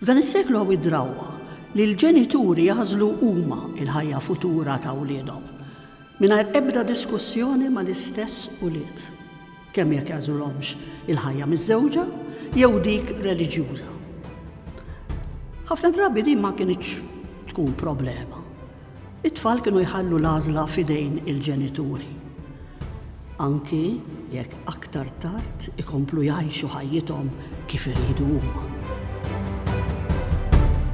F'dan is-seklu hawn id-drawwa li l-ġenituri jaħżlu huma l-ħajja futura ta' wliedhom, mingħajr ebda diskussjoni mal-istess ulied, kemm jekk jagħżulhomx il-ħajja miżżewġa jew dik reliġjuża. Ħafna drabi din ma kinitx tkun problema. It-tfal kienu jħallu l-għażla f'idejn il-ġenituri, anki jekk aktar tard ikomplu jgħixu ħajjithom kif iridu huma.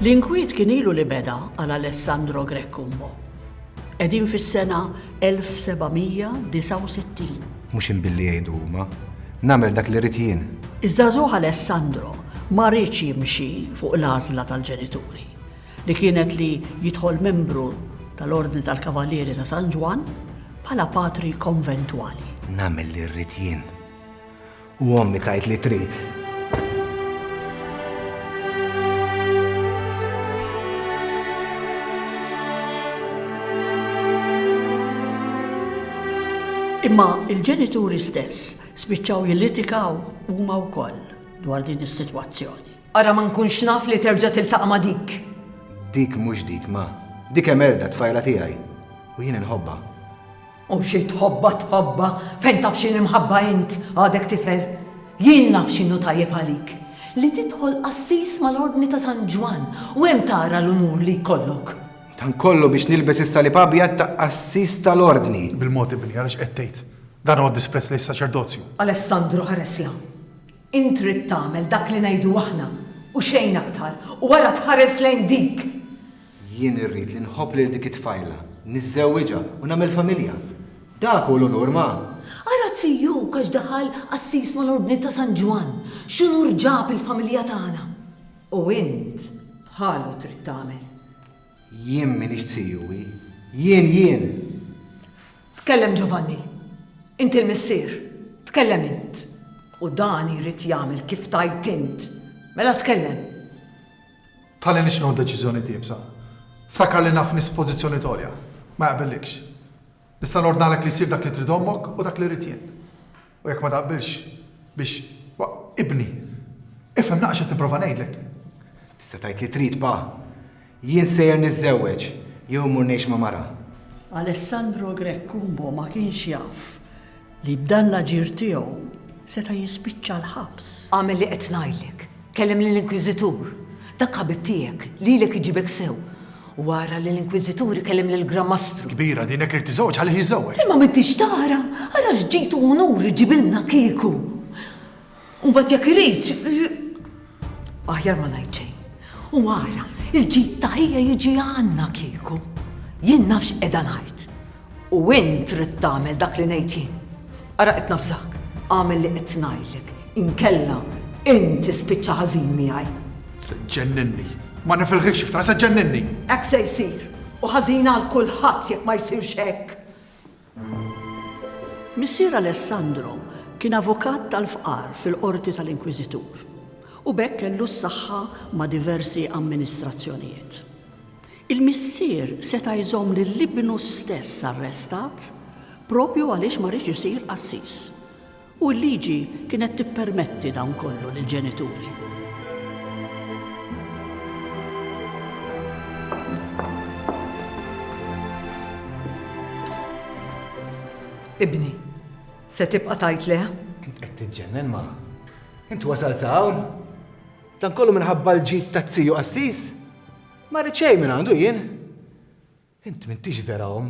L-inkwiet kien ilu li beda għal Alessandro Greccumbo. Qegħdin fis-sena 1769. Mhux inbilli jgħidu huma, nagħmel dak li rrid jien. Iż-żagħżugħ Alessandro ma riedx jimxi fuq l-għażla tal-ġenituri. li kienet li jidħol membru tal-Ordni tal-Kavalieri ta' San Ġwann bħala patri konventwali. Nagħmel li rrid jien. U ommi tgħid li trid. Imma il-ġenituri stess spiċċaw jillitikaw huma wkoll dwar din is-sitwazzjoni. Ara ma nkunx naf li terġa' tiltaqa' ma' dik. Dik mhux dik, ma. Dik Emelda, t-tfajla tiegħi. U jien inħobbha. U xi tħobbha tħobbha, fejn taf x'inhi mħabba int, għadek tifel. Jien naf x'inhu tajjeb għalik. Li tidħol qassis mal-Ordni ta' San Ġwann u hemm tara l-unur li jkollok. Dan kollu biex nilbes is-salib abjad ta' qassis tal-Ordni. Bil-mod ibni, ara x'qed tgħid. Dan huwa disprezz lejn is-saċerdozju. Alessandro ħareslha. Int trid tagħmel dak li ngħidu aħna, u xejn aktar, u wara tħares lejn dik! Jien irrid li nħobb lil dik it-tfajla, niżżewwiġha, u nagħmel familja. Dak hu l-unur, ma! Ara Zijuk għax daħal qassis mal-Ordni ta' San Ġwann, x'unur ġab il-familja tagħna! U int bħalu trid tagħmel. Jien m'iniex CUE. Jien, jien! Tkellem Giovanni. Inti l-missier. Tkellem int. U dan jrid jagħmel kif tgħid int. Mela tkellem. Tħalli nix nieħu deċiżjoni tiebsa. Ftakar li naf nies f'pożizzjoni t'għolja. Ma jaqbillikx. Nista' nordnalek li jsir dak li trid ommok u dak li rrid jien. U jekk ma taqbilx biex ibni. Ifhem naqx qed nipprova ngħidlek. Tista' tgħid li trid pa. Jien sejjer niżżewweġ jew immur ngħix ma' mara. Alessandro Grech Cumbo ma kienx jaf li b'dan l-aġir tiegħu seta' jispiċċa l-ħabs. Agħmel li qed ngħidlek. Kellem lill-Inkwiżitur, dak ħabib tiegħek, lilek iġibek sew. U ara li l-Inkwiżitur ikellem lill-Gran Mastru. Kbira din jekk irid tiżżewweġ ħallih jiżżewweġ. Imma m'intix tara, ara x'ġid u unur iġibilna kieku. U mbagħad jekk irid, aħjar ma ngħid xejn. U ara, il-ġid ta' ħija jiġi għandna kieku. Jien naf x'qiegħda ngħid. U int trid tagħmel dak li ngħid jien. Ara qed nafżak, agħmel li qed ngħidlek, inkella int tispiċċa ħażin miegħi. Se ġġenninni. Ma nifilħikx iktar, se ġġenninni. Hekk se jsir, u ħażin għal kulħadd jekk ma jsirx hekk. Missier Alessandro kien avukat tal-fqar fil-qorti tal-Inkwiżitur u b'hekk kellu s-saħħa ma' diversi amministrazzjonijiet. Il-missier seta' jżomm lil ibnu stess arrestat proprju għaliex ma riex isir qassis. U l-liġi kienet tippermetti dan kollu lill-ġenituri. Ibni, se tibqa' tgħid le? Qed tiġġennen, ma. Int wasalt sa hawn? Dan kollu minħabba l-ġid ta' ziju qassis? Ma rrid xejn minn għandu jien. Int m'intix vera om.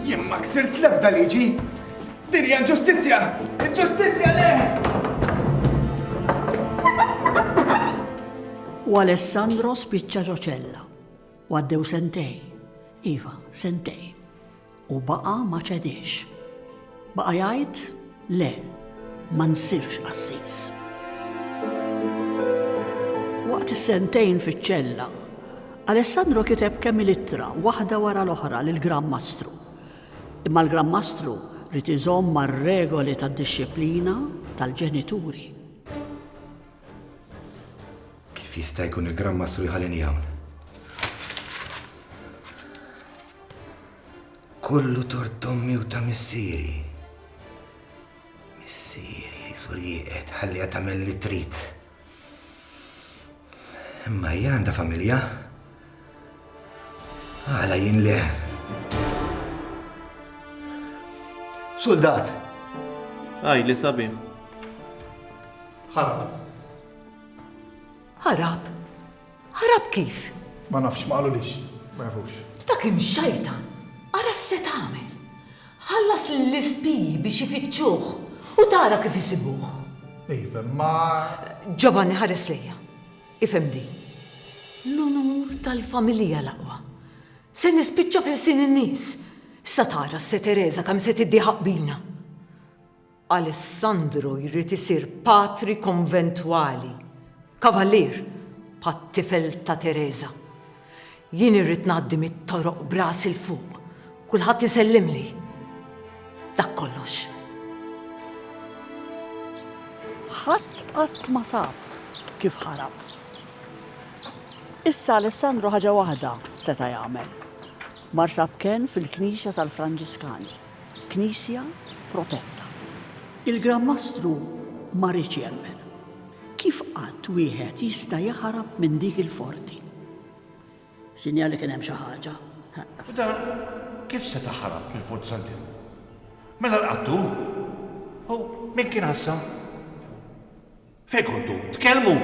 Jien ma ksirt l-ebda liġi. Din hija ġustizzja! Ġustizzja le! U Alessandro spiċċa ġoċella. Għaddew sentej. Iva, sentej. U baqa' ma ċediex. Baqa' jgħid, Le, ma nsirx qassis. Waqt is-sentejn fiċ-ċella, Alessandro kiteb kemm il-ittra waħda wara l-oħra lill-Gran Mastru. Imma l-Gran Mastru rid iżomm mar-regoli tad-dixxiplina tal-ġenituri. Kif jista' jkun il-Gran Mastru jħallini hawn? Kollu tort ommi u ta' missieri. Missieri, sur jieqed, ħalliha tagħmel li trid. Imma hija għandha familja. Għala jien le. Soldat! Għaj li sabi. Ħarab. Ħarab? Ħarab kif? Ma nafx, ma qalulix. Ma jafux. Dak imxajtan! Ara x'se tagħmel! Ħallas lill-ispiji biex ifittxuh u tara kif isibuh. Iva, imma. Ġovanni ħares lejja. Ifhem din. L-unur tal-familja l-aqwa. Se nispiċċa f'ilsien in-nies. Issa tara s-se Teresa kemm se tiddieħaq bina. Alessandro jrid isir patri konventwali, kavalier, bħat-tifel ta' Tereża. Jien irrid ngħaddi mit-toroq b'ras 'il fuq, kulħadd isellimli. Dak kollox. Ħadd qatt ma sab kif ħarab. Issa Alessandro ħaġa waħda seta' jagħmel. Mar sab kenn fil-knisja tal-Franġiskani. Knisja protetta. Il-Gran Mastru ma riedx jemmen. Kif qatt wieħed jista' jaħrab minn dik il-forti? Sinjal li kien hemm xi ħaġa. U dan kif seta' ħarab mill-Fort Sant'Ilmu? Mela l-qattur? U min kien għassa? Fejn kontu? Tkellmu?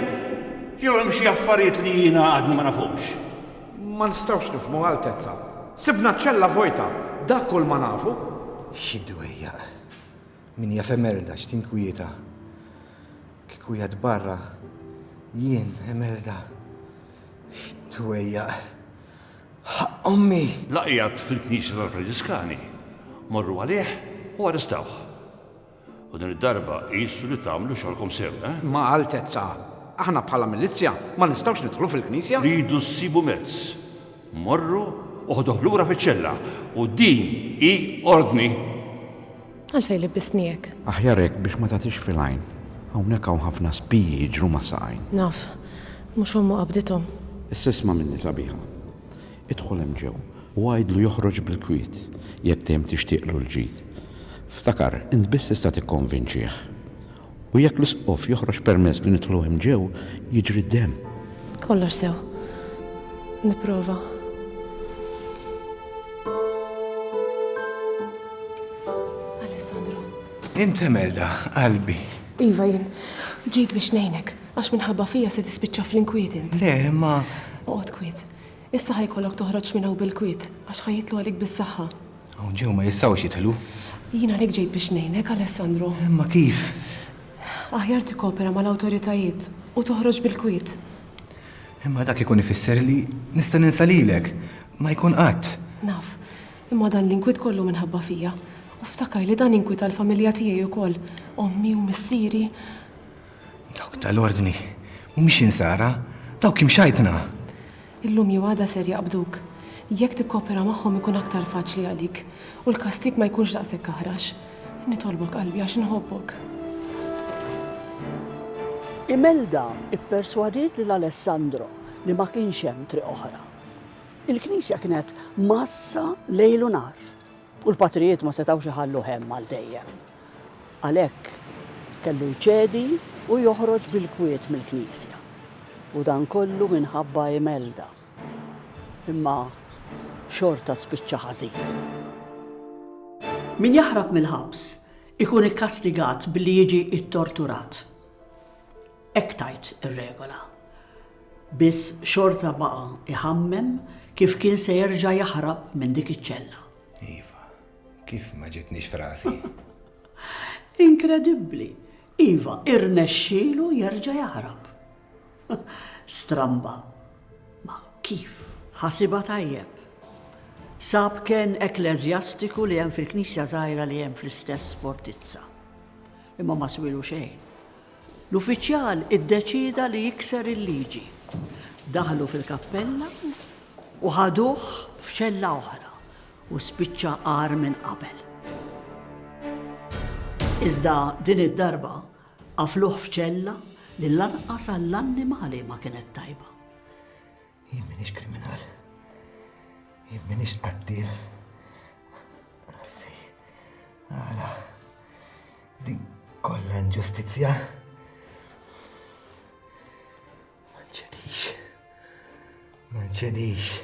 Jew hemm xi affarijiet li jiena għadni ma nafhomx? Ma nistgħux nifhmu, Altezza. Sibna ċ-ċella vojta, dak kull ma nafu. Xi dwejjaq! Min jaf Emelda x'tinkwieta. Kieku qiegħed barra, jien, Emelda. Xi dwejjaq! Ħaqq ommi! La qiegħed fil-knisja tal-Franġiskani. Morru għalih u arrestawh. U din id-darba qisu li tagħmlu xogħolkom sew, eh? Ma' Altezza, aħna bħala milizzja ma nistgħux nidħlu fil-knisja. Tridu ssibu mezz. Morru u ħduh lura fiċ-ċella. U din hi ordni! Għalfejn libbistni hekk? Aħjar hekk biex ma tagħtix fil-għajn. Hawnhekk hawn ħafna spiji jiġru mas-saqajn. Naf. Mhux ommu qabdithom. Issa isma' minni, sabiħa. Idħol hemm ġew u għidlu joħroġ bil-kwiet jekk dejjem tixtieqlu l-ġid. Ftakar, int biss tista' tikkonvinċih. U jekk l-Isqof joħroġ permess li nidħlu hemm ġew, jiġri d-demm. Kollox sew. Nipprova. Alessandro. Int Imelda, qalbi. Iva jien. Ġejt biex ngħinek, għax minħabba fija se tispiċċa fl-inkwiet int. Le, imma. Oqgħod kwiet. Issa ħa jkollok toħroġ minn hawn bil-kwiet, għax ħa jidħlu għalik bis-saħħa. Hawn ġew ma jistgħux jidħlu. Jien għalhekk ġejt biex ngħinek, Alessandro. Imma kif? Aħjar tikkopera mal-awtoritajiet u toħroġ bil-kwiet. Imma dak ikun ifisser li nista' ninsa lilek. Ma jkun qatt. Naf, imma dan l-inkwiet kollu minħabba fija. U ftakar li dan inkwita l-familja tiegħi wkoll, ommi u missieri. Dawk tal-Ordni mhumiex insara, dawk imxajtna. Illum jew għada ser jaqbduk. Jekk tikkopera magħhom ikun aktar faċli għalik u l-kastig ma jkunx daqshekk aħrax. Nitolbok qalbi għax inħobbok. Imelda pperswadiet lil Alessandro li ma kienx hemm triq oħra. Il-knisja kienet mgħassa lejl u nhar. U l-patrijiet ma setgħux iħalluh hemm għal dejjem. Għalhekk kellu jċedi u joħroġ bil-kwiet mill-knisja. U dan kollu minħabba Imelda. Imma xorta spiċċa ħażin. Min jaħrab mill-ħabs ikun ikkastigat billi jiġi ttorturat. Hekk tgħid ir-regola. Biss xorta baqa' jħammem kif kien se jerġa' jaħrab minn dik iċ-ċella. Iva, kif ma ġietnix f'rasi? Inkredibbli! Iva, irnexxielu jerġa' jaħrab. Stramba. Ma kif? Ħasibha tajjeb. Sab kenn ekkleżjastiku li hemm fil-knisja żgħira li hemm fl-istess fortizza. Imma ma swielu xejn. L-uffiċjal iddeċieda li jikser il-liġi. Daħlu fil-kappella u ħaduh f'ċella oħra u spiċċa agħar minn qabel. Iżda din id-darba qafluh f'ċella li lanqas għall-annimali ma kienet tajba. Jien minix kriminal. Jien minix qattil. Għalfej, għala, din kollha inġustizzja. Ma nċedix. Ma nċedix.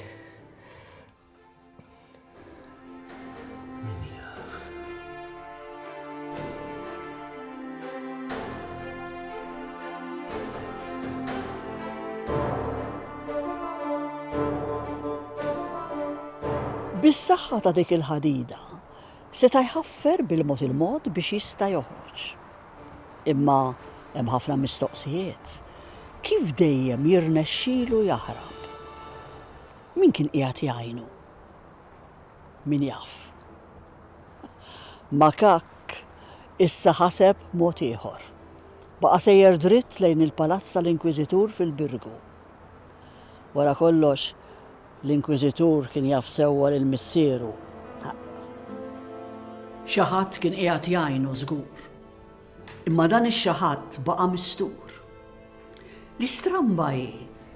Bis-saħħa ta' dik il-ħadida, seta' jħaffer bil-mod il-mod biex jista' joħroġ. Imma hemm ħafna mistoqsijiet. Kif dejjem jirnexxilu jaħrab? Min kien qiegħed jgħinu? Min jaf. Makak issa ħaseb mod ieħor. Baqa' sejjer dritt lejn il-palazz tal-Inkwiżitur fil-Birgu. Wara kollox, l-Inkwiżitur kien jaf sewwa lil missieru. Xi ħadd kien qiegħed jgħinu żgur. Imma dan ix-xi ħadd baqa' mistur. L-istramba hi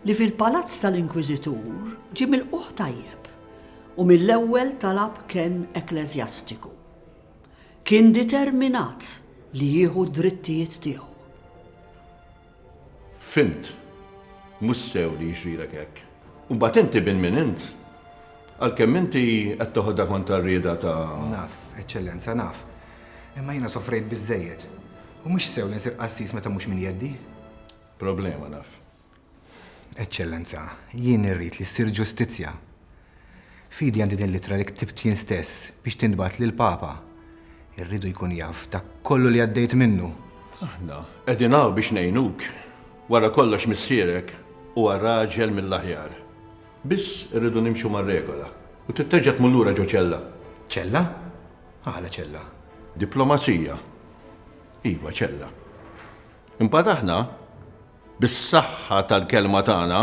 li fil-palazz tal-Inkwiżitur ġie milqugħ tajjeb u mill-ewwel talab kenn ekkleżjastiku. Kien determinat li jieħu d-drittijiet tiegħu. Fhimt. Mhux sew li jiġrilek hekk. U mbagħad inti bin min int? Għalkemm inti qed toħodha kontra r-rieda ta'. Naf, Eċċellenza, naf. Imma jiena sofrejt biżżejjed. U mhux sew li nsir qassis meta mhux minn jeddi. Problema, naf. Eċċellenza, jien irrid li ssir ġustizzja. F'idi għandi din l-ittra li ktibt jien stess biex tintbagħat lill-Papa. Irridu jkun jaf dak kollu li għaddejt minnu. Aħna qegħdin hawn biex ngħinuk. Wara kollox missierek huwa raġel mill-aħjar. Biss irridu nimxu mar-regola u trid terġa' tmur lura ġo ċella. Ċella? Għala ċella? Diplomazija. Iva, ċella. Imbagħad aħna? Bis-saħħa tal-kelma tagħna,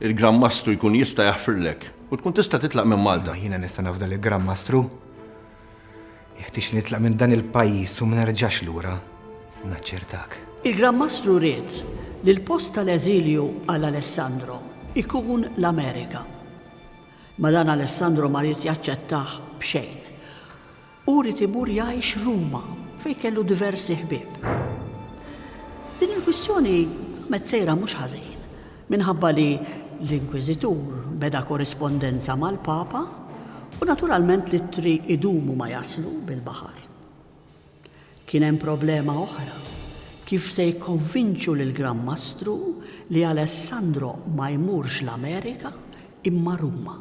il-Gran Mastru jkun jista' jaħfirlek u tkun tista' titlaq minn Malta. Ma jiena nista' nafda lill-Gran Mastru. Jeħtieġ li nitlaq minn dan il-pajjiż u ma nerġax lura, naċċertak. Il-Gran Mastru ried li l-post tal-eżilju għal Alessandro jkun l-Amerika. Ma dan Alessandro ma ried jaċċettah b'xejn. Hu ried imur jgħix Ruma, fejn kellu diversi ħbieb. Din il-kwistjoni qamet sejra mhux ħażin, minħabba li l-Inkwiżitur beda korrispondenza mal-Papa u naturalment l-ittri jdumu ma jaslu bil-baħar. Kien hemm problema oħra, kif se jikkonvinċu lill-Gran Mastru li Alessandro ma jmurx l-Amerika imma Ruma.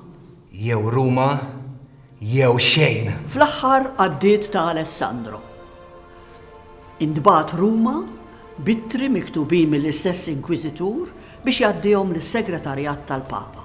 Jew Ruma jew xejn! Fl-aħħar għaddiet ta' Alessandro. Intbagħat Ruma b'ittri miktubin mill-istess Inkwiżitur biex jgħaddihom lis-Segretarjat tal-Papa.